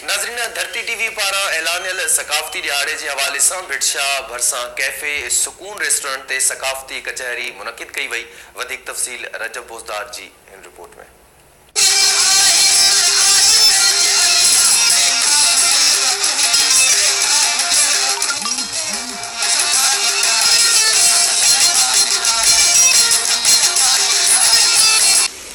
ناظرين Dharti T V پاران اعلانيل ثقافتي ڏهاڙي جي حوالي سان ڀٽ شاهه ڀرسان ڪيفي سڪون ريسٽورنٽ تي ثقافتي ڪچهري منعقد ڪئي وئي وڌيڪ تفصيل رجب بوزدار جي هن رپورٽ ۾.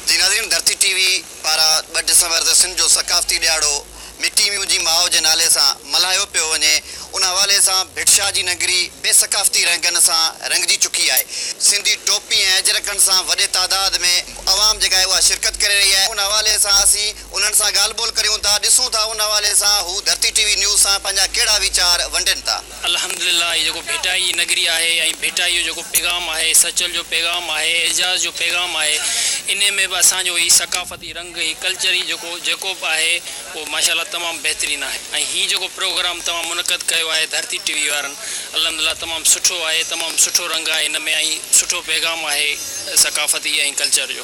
جي ناظرين ڌرتي ٽي وي. پارا ٻه ڊسمبر تي سنڌ جو ثقافتي ڏهاڙو مٽي مينهنجي ماء جي نالي سان ملهايو پيو وڃي ان حوالي سان ڀٽشاهه جي نگري بي ثقافتي رنگن سان رنگجي چڪي آهي سنڌي ٽوپي ۽ اجرڪن سان وڏي تعداد ۾ عوام جيڪا آهي اها شرڪت ڪري رهي آهي ان حوالي سان اسين انهن سان ڳالهه ٻولهه ڪريون ٿا ڏسون ٿا ان حوالي سان هو ڌرتي ٽي وي نيوز سان پنهنجا ڪهڙا ويچار ونڊين ٿا. الحمد لله هي جيڪو ڀٽائي جي نگري آهي ۽ ڀٽائي جو جيڪو پيغام آهي سچل جو پيغام آهي اعجاز جو پيغام آهي انهي ۾ به اسان جو هي ثقافتي رنگ هي ڪلچري جيڪو جيڪو به آهي اهو ماشاء الله تمام بهترين آهي ۽ هي جيڪو پروگرام توهان منعقد ڪيو آهي ڌرتي ٽي وي وارن الحمد لله تمام سٺو آهي تمام سٺو رنگ آهي ان ۾ ۽ سٺو پيغام آهي ثقافتي ۽ ڪلچر جو.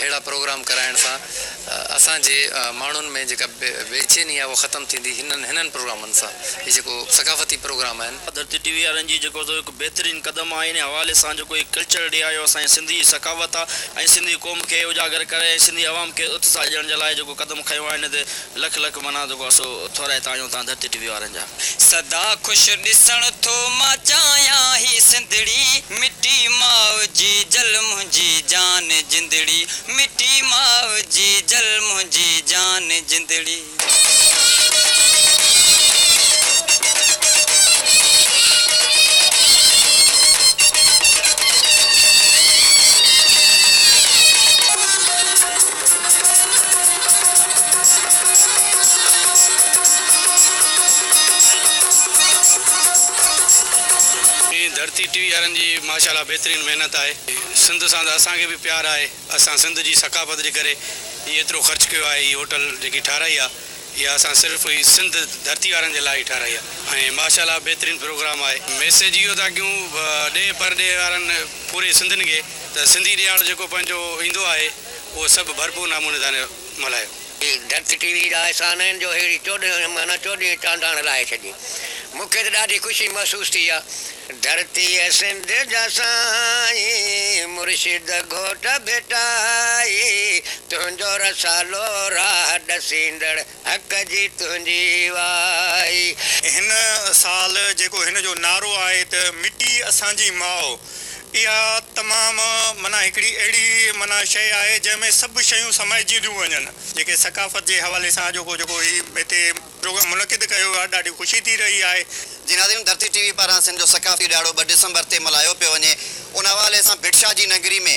اهڙا پروگرام ڪرائڻ سان اسان جي ماڻهن ۾ جيڪا بيچيني آهي اها ختم ٿيندي هنن پروگرامن سان هي جيڪو ثقافتي پروگرام آهن. ڌرتي ٽي وي وارن جي جيڪو سو هڪ بهترين قدم آهي ان حوالي سان جيڪو هي ڪلچر ڊي آيو اسان جي سنڌي ثقافت آهي ۽ سنڌي قوم کي اجاگر ڪري ۽ سنڌي عوام کي اتساهه ڏيڻ جي لاء جيڪو قدم کنيو آهي ان تي لک لک منان جيڪو اسو ٿورائي تاڻيون تان ڌرتي ٽي وي وارن جا. سدا خوش ڏسڻ ٿو مان چاهيان هي سنڌڙي مٽي ماء جي جل منهنجي جان جندڙي مٽي ماء جي جل منهنجي جان جندڙي. ڌرتي ٽي وي وارن جي ماشا الله بهترين محنت آهي سنڌ سان ته اسان کي به پيار آهي اسان سنڌ جي ثقافت جي ڪري هي ايترو خرچ ڪيو آهي هي هوٽل جيڪي ٺاهرائي آهي اها اسان صرف هي سنڌ ڌرتي وارن جي لاء ئي ٺاهرائي آهي ۽ ماشا الله بهترين پروگرام آهي ميسيج اهو ٿا ڪيون ڏيهه پرڏيهه وارن پوري سنڌين کي ته سنڌي ڏيهاڙو جيڪو پنهنجو ايندو آهي اهو سڀ ڀرپور ناموني تان ملهايو. هي ڌرت ٽي وي جا احسان آهن جو ههڙي چوڏهن مهنا چوڏهين چانڊاڻ لاهي ڇڏي. مون کي ته ڏاڍي خوشي محسوس ٿي آ. ڌرتيء سنڌ جا سائين مرشد گهوٽ ڀيٽائي تنهنجو رسالو راهه ڏسيندڙ. حق جي تنهنجي وائي. هن سال جيڪو هن جو نعرو آهي ته مٽي اسان جي ماء اها تمام معنيٰ هڪڙي اهڙي معنيٰ شيء آهي جنهن ۾ سڀ شيون سمائجنديون وڃن. جيڪي ثقافت جي حوالي سان اڄوڪو جيڪو هي هتي پروگرام منعقد ڪيو ويو آهي ڏاڍي خوشي ٿي رهي آهي. جي ناظرين ڌرتي ٽي وي پاران سنڌ جو ثقافتي ڏهاڙو ٻه ڊسمبر تي ملهايو پيو وڃي ان حوالي سان ڀٽ شاهه جي نگري ۾.